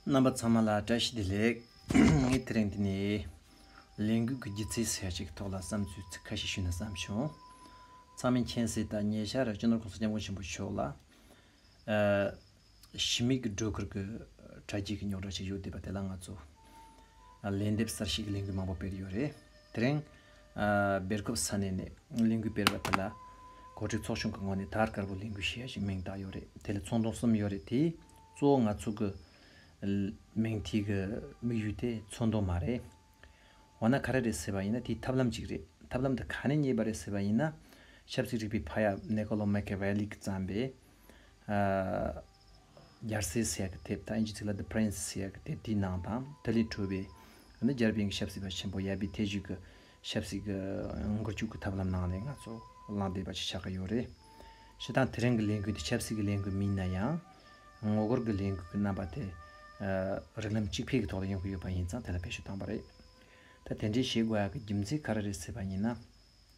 རྣམ་པ་ཚང་མ་ལ་བཀྲ་ཤིས་བདེ་ལེགས། ངས་དེ་རིང་འདི་ནས་ལས་འགུལ་གྱི་སྒྱུ་རྩལ་ཟེར་བྱེད་ཀྱི་ཐོག་ལ་བསམ་ཚུལ་ཁ་ཤས་ཞུས་ན་བསམ་བྱུང། ཚང་མས་མཁྱེན་གསལ་ལྟར་ཉེ་ཆར་སྤྱི་ནོར་ཁོང་ས་སྐྱབས་མགོན་ཆེན་པོ་མཆོག་ལ་ཞི་མི་གི་སྒྲོལ་དཀར་གྱི་དྲ་རྒྱའི་ཉོག་དྲ་ཞིག་ཡོད་བསྡད་པ་དེ་ལ་ང་ཚོ་ལན་འདེབས་གསར་ཤེས་ཀྱི་ལས་འགུལ་མང་པོ་སྤེལ་ཡོད་རེད། དེ་རིང་སྦེལ་ཀོབ་ས་གནས་ནས་གླིང་དགུའི་སྤེལ་བ་དེ་ལ་གོ་སྒྲིག་ཚོགས་ཆུང་གི་ངོས་ནས་དར་དཀར་པོ་གླིང་དགུའི་གཞས་ཞེས་མིང་བཏགས་ཡོད་རེད་དེ་ལ་ཚོང་དོན་གསུམ་ཡོད་རེད་དེ་གཙོ་བོ་ང་ཚོ་གི་མིང་དེ་གི་དམིགས་ཡུལ་དེ་ཚོང་དོན་མ་རེད། འོ་ན་ག་རེ་རེད་ཟེར་བ་ཡིན་ན་དེའི་ཐབས་ལམ་གཅིག་རེད་ཐབས་ལམ་དེ་ག་ནས་རྙེད་པ་རེད་ཟེར་བ་ཡིན་ན་ཆབ་སྲིད་རིག་པའི་ཕ་ཡག་ནེ་ཀོ་ལོ་མེ་ཀེ་ཝེ་ལིས་ཀྱིས་བརྩམས་པའི། རྒྱལ་སྲས་ཟེར་ཡག་གི་དེབ་དང་ཨིན་ཇི་ཚིག་ལ The Prince ཟེར་ཡག་གི་དེབ་དེའི་ནང་དང་དེ་ལས་འཕྲོས་པའི་ནི་རྒྱལ་བན་གྱི་ཞབས་སྲིད་པ་ཆེན་པོ་ཡཱ་པི་ཐེ་ཇུས་ཀྱི་ཞབས་སྲིད་ཀྱི་འགུལ་སྐྱོད་ཀྱི་ཐབས་ལམ་ནང་ནས་ང་ཚོ་བླངས་བསྡད་པ་ཞིག་ཆགས་ཀྱི་ཡོད་རེད། ཞེ་སྡང་དེ་རིང་གི་ལས་འགུལ་འདི་ཆབ་སྲིད་ཀྱི་ལས་འགུལ་མིན་ན་ཡང། ངོ་རྒོལ་གྱི་ལས་འགུལ་གྱི་རྣམ་པ་དེ། རིགས་ལམ་གཅིག་འཕེལ་གྱི་ཐོག་ལ་ཡོང་གི་ཡོད་པ་ཡིན་ཙང་དེ་ལ་བེད་སྤྱོད་བཏང་བ་རེད། ད་དེ་འདྲའི་བྱེད་དགོས་ཡག་གི་རྒྱུ་མཚན་ག་རེ་རེད་ཟེར་བ་ཡིན་ན།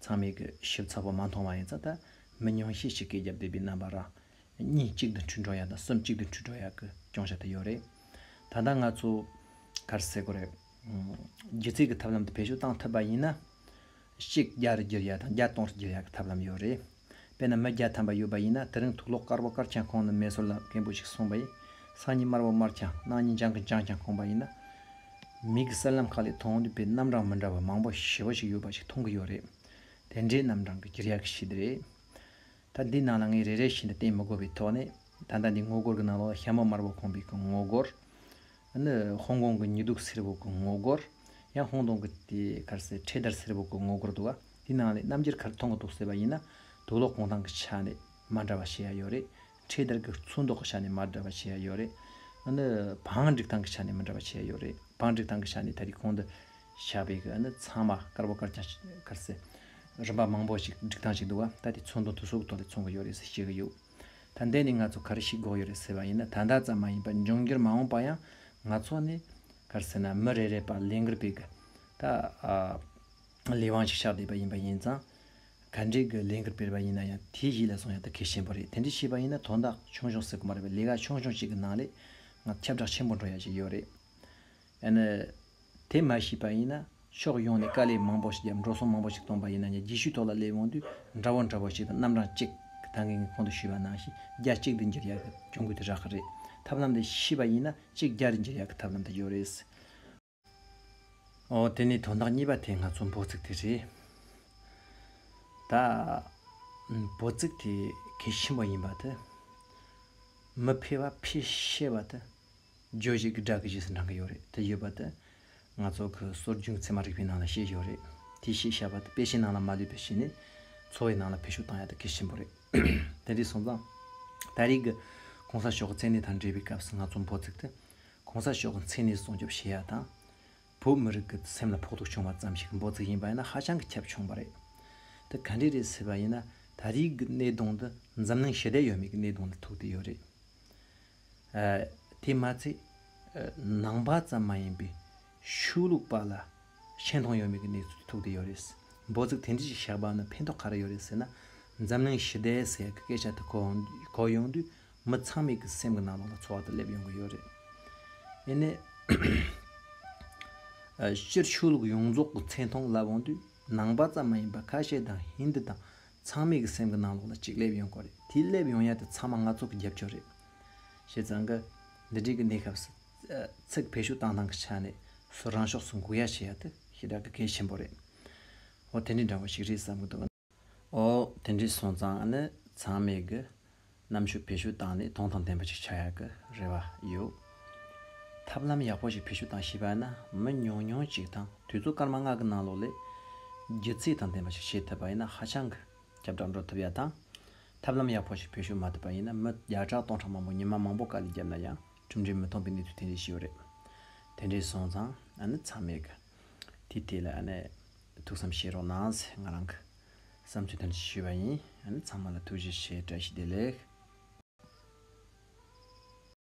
ཚང་མས་གུས་ཞབས་ཚ་བོ་མ་མཐོང་བ་ཡིན་ཙང་ད་མི་ཉུང་ཤས་ཤིག་གིས་རྒྱབ་གཏད་པའི་རྣམ་པ་རང། གཉིད་གཅིག་ཏུ་འཁྲུལ་འགྲོ་ཡག་དང་སེམས་གཅིག་ཏུ་འཁྲུལ་འགྲོ་ཡག་གི་སྐྱོང་བྱ་ཐུབ་ཡོད་རེད། ད་ལྟ་ང་ཚོ། གར་སེ་གོ་རེ། སྒྱུ་རྩལ་གྱི་ཐབས་ལམ་དེ་བེད་སྤྱོད་བཏང་ཐུབ་པ་ཡིན་ན། གཅིག་རྒྱ་རུ་བསྒྱུར་ཡག་དང་བརྒྱ་སྟོང་རུ་བསྒྱུར་ཡག་གི་ཐབས་ལམ་ཡོད་རེད། དཔེར་ན་མི་བརྒྱ་ཐམ་པ་ཡོད་པ་ཡིན་ན་དེ་རིང་དུག་ལོག་དཀར་བོ་དཀར་ཀྱང་ཁོང་ནི་མེ་སོར་ལ་མཁན་པོ་ཞིག་སོང་བ་ཡིན། སང་ཉིན་དམར་བོ་དམར་ཀྱང་གནངས་ཉིན་ལྗང་གི་ལྗང་ཀྱང་ཁོང་པ་ཡིན་ན། མིག་གི་གསལ་ལམ་ཁག་ལས་མཐོང་ཐུབ་པའི་རྣམ་གྲངས་མི་འདྲ་བ་མང་པོ་ཞེ་བོ་ཞིག་ཡོད་པ་ཞིག་མཐོང་གི་ཡོད་རེད། དེ་འདྲའི་རྣམ་གྲངས་ཀྱི་གྱེར་ཡག་གི་གཞི་འདི་རེད། ད་འདིའི་ནང་ལ་ངས་རེ་རེ་བཞིན་དུ་བསྟན་མི་དགོས་པའི་ཐོག་ནས། ད་ལྟ་འདི་ངོ་རྒོར་གྱི་ནང་ལོགས་ལ་ཤ་མོ་དམར་པོ་ཁོང་པའི་གི་ངོ་རྒོར། ནི་ཧོང་ཀོང་གི་ཉི་གདུགས་སེར་པོ་གི་ངོ་རྒོར། ཡང་ཧོང་ཏོང་གི་དེ་གར་སའི་འཕྲེད་དར་སེར་པོ་གི་ངོ་རྒོར་འདུག་ག་དེའི་ནང་ལས་རྣམ་འགྱུར་ག་རེ་མཐོང་གི་འདུག་ཟེར་བ་ཡིན་ན། དུག་ལོག་གོང་ཐང་གི་ཆ་ནས་མ་འདྲ་བ་ཞེ་ཡག་ཡོད་རེད། ཁྲའི་དར་གྱི་ཚོན་མདོག་གི་ཆ་ནས་མ་འདྲ་བ་བྱས་ཡོད་རེད། ཨ་ནི་བང་སྒྲིག་སྟངས་ཀྱི་ཆ་ནས་མི་འདྲ་བ་བྱས་ཡོད་རེད། བང་སྒྲིག་སྟངས་ཀྱི་ཆ་ནས་ད་རེས་གོང་དུ་བཤད་པའི་ཨ་ནི་ཚང་མ་དཀར་བོ་དཀར་ཆ་དཀར་སེར་རིམ་པ་མང་པོ་ཞིག་སྒྲིག་སྟངས་ཞིག་འདུག་བ་ད་དེ་ཚོན་མདོག་དུ་སོག་ཐོག་ལས་མཚོན་གི་ཡོད་རེད་ཟེར་བཤད་གི་ཡོད། ད་འདས་ནས་ང་ཚོ་ག་རེ་ཞིག་འགོག་ཡོད་རེད་ཟེར་བ་ཡིན་ན་ད་ལྟ་ཙམ་མ་ཡིན་པར་འབྱུང་འགྱུར་མ་འོངས་པ་ཡང་ང་ཚོ་ནི། ག་རེ་ཟེར་ན་མི་རེ་རེས་པར་ལས་འགུལ་སྤེལ་གི་ད། ལས་དབང་ཞིག་ཆགས་བསྡད་པ་ཡིན་པ་ཡིན་ཙང། ག་འདྲའི་གི་ལས་འགུལ་སྤེལ་བ་ཡིན་ན་ཡང་དེའི་གཞི་ལ་སོང་ཡག་ཏུ་གལ་ཆེན་པོ་རེད་དེ་འདྲ་བྱས་པ་ཡིན་ན་དོན་དག་ཆུང་ཆུང་སེ་གོ་མ་རེད་པ་ལས་ཀ་ཆུང་ཆུང་ཞིག་གི་ནང་ལས་ང་ཁྱབ་བསྒྲགས་ཆེན་པོ་འགྲོ་ཡག་ཞིག་ཡོད་རེད། ཡང་ན། དེ་མ་ཤེས་པ་ཡིན་ན་ཕྱོགས་ཡོངས་ནས་དཀའ་ལས་མང་པོ་ཞིག་བརྒྱབ་འགྲོ་སོང་མང་པོ་ཞིག་སྟོང་པ་ཡིན་ན་ཡང་རྒྱས་བཤུས་ཐོག་ལ་སླེབས་འོང་དུས་འདྲ་བོ་འདྲ་བོ་ཞིག་དང་རྣམ་གྲངས་གཅིག་ད་གིན་གིན་གོང་དུ་ཞུས་པ་ནང་བཞིན་རྒྱ་གཅིག་ཏུ་འགྱུར་ཡག་གི་གྱོང་གུད་དེ་རག་གི་རེད་ཐབས་ལམ་དེ་ཤེས་པ་ཡིན་ན་གཅིག་རྒྱ་རེ་འགྱུར་ཡག་གི་ཐབས་ལམ་དེ་ཡོད་རེད། འོ་དེ་ནི་དོན་དག་གཉིས་པ་དེ་ང་ཚོ་འབོ་ཚིགས་དེ་རེད། ད་འབོ་ཚིགས་དེ་གལ་ཆེན་པོ་ཡིན་པ་དེ། མི་ཕལ་བ་ཕལ་ཤེས་པ་དེ་རྗོད་བྱེད་ཀྱི་སྒྲ་གི་རྗེས་སུ་འབྲང་གི་ཡོད་རེད་དེ་ཡོད་པ་དེ། ང་ཚོ་གི་སྲོལ་རྒྱུན་ཚད་མ་རིག་པའི་ནང་ལ་བཤད་ཡོད་རེད་དེ་ཞེས་བྱ་བ་དེ་དཔེ་ཆའི་ནང་ལ་མ་ལུས་པའི་ཆེད་ནས་འཚོ་བའི་ནང་ལ་འཕེལ་ཤུགས་བཏང་ཡ་དེ་གལ་ཆེན་པོ་རེད། དེ་འདྲའི་སོང་ཙང། ད་རེས་ཀྱི ྋགོང་ས་མཆོག་གི་མཚན་གནས་དང་འབྲེལ་བའི་སྐབས་སུ་ང་ཚོ་འབོ་ཚིགས་དེ་གོང་ས་མཆོག་གི་མཚན་གནས་སྲུང་སྐྱོབ་བྱེད་ཡག་དང། བོད་མི་རིགས་ཀྱི་སེམས་ལ་ཕོག་ཐུག་བྱུང་བ་ཙམ་ཞིག་འབོད་ཚིག་ཡིན་པ་ཡིན་ན་ཧ་ཅང་གི་ཁྱབ་ཆུང་བ་རེད། དེ་ག་འདྲས་རེད་ཟེར་བ་ཡིན་ན་ད་རེས་ཀྱི་གནས་སྟངས་འདི་འཛམ་གླིང་ཞི་བདེ་ཡོད་མེད་ཀྱི་གནས་སྟངས་ལ་ཐུག་བསྡད་ཡོད་རེད། དེས་མ་ཚད་ནང་པ་ཙམ་མ་ཡིན་པའི་ཆོས་ལུགས་པ་ལ་ཆེ་མཐོང་ཡོད་མེད་ཀྱི་གནས་ཚུལ་དུ་ཐུག་བསྡད་ཡོད་རེད། འབོད་ཚིག་དེ་འདྲས་ཞིག་བཞག་པ་ནི་ཕན་ཐོགས་ག་རེ་ཡོད་རེད་ཟེར་ན་འཛམ་གླིང་ཞི་བདེའི་ཟེར་གྱི་སྐད་ཆ་དེ་གོ་ཡོང་དུས་མི་ཚང་མས་ཀྱི་སེམས་ཀྱི་ནང་དོན་ལ་ཚོར་བ་དེ་སླེབས་ཡོང་གི་ཡོད་རེད། དེ་ནས། སྤྱིར་ཆོས་ལུགས་ཡོངས་རྫོགས་ཀྱི་མཚན་མཐོང་ལབ་འོང་དུས་ནང་པ་ཙམ་མ་ཡིན་པར་ཁ་ཤས་དང་ཧིན་དི་དང་ཚང་མས་ཀྱི་སེམས་ཀྱི་ནང་ལོགས་ལ་ཅིག་སླེབས་ཡོང་གི་རེད་དེ་སླེབས་ཡོང་ཡ་དེ་ཚང་མ་ང་ཚོ་གི་རྒྱབ་སྐྱོར་རེད། བྱས་ཙང་གི། འདི་འདྲིའི་གི་གནས་སྐབས་སུ། ཚིག་བེད་ཤུགས་བཏང་སྟངས་ཀྱི་ཆ་ནས་སུ་རང་ཕྱོགས་སུ་འགུག་ཡ་བྱེད་ཡ་དེ་ཤི་དྲག་གི་གལ་ཆེན་པོ་རེད། འོ་དེ་འདྲའི་འདྲ་བོ་ཞིག་རེད་བསམ་གི་འདུག། ཨོ། དེ་འདྲའི་སོང་ཙང་ནི་ཚང་མས་གི། གནམ་ཆོས་བེད་སྤྱོད་བཏང་ནས་ཐོང་ཐང་ལྡན་པ་ཞིག་ཆགས་ཡག་གི་རེ་བ་ཡོད། ཐབས་ལམ་ཡག་པོ་ཞིག་བེད་སྤྱོད་བཏང་ཤེས་པ་ན་མི་ཉུང་ཉུང་ཅིག་དང་དུས་ཚོད་སྐར་མ་ལྔ་གི་ནང་ལོགས་ལས། སྒྱུ་རྩལ་དང་ལྡན་པ་ཞིག་བྱེད་ཐུབ་པ་ཡིན་ན་ཧ་ཅང་གི་ཁྱབ་བསྒྲགས་འགྲོ་ཐུབ་ཡག་དང། ཐབས་ལམ་ཡག་པོ་ཞིག་བེད་སྤྱོད་མ་ཐུབ་པ་ཡིན་ན་མི་བརྒྱ་ཕྲག་སྟོང་ཕྲག་མང་པོ་ཉི་མ་མང་པོ་དཀའ་ལས་བརྒྱབ་ན་ཡང་གྲུབ་འབྲས་མི་མཐོང་པའི་གནས་ཚུལ་དེ་འདྲས་ཤི་ཡོད་རེད། དེ་འདྲའི་སོང་ཙང་ནི་ཚང་མས་གི། དེ་དེ་ལ་ཐུགས་བསམ་བཞེས་རོགས་གནང། ང་རང་གི་བསམ་ཚུལ་དོན་ཚན་ཞུས་པ་ཡིན། ཚང་མ་ལ་ཐུགས་རྗེ་ཆེ་བཀྲ་ཤིས་བདེ་ལེགས།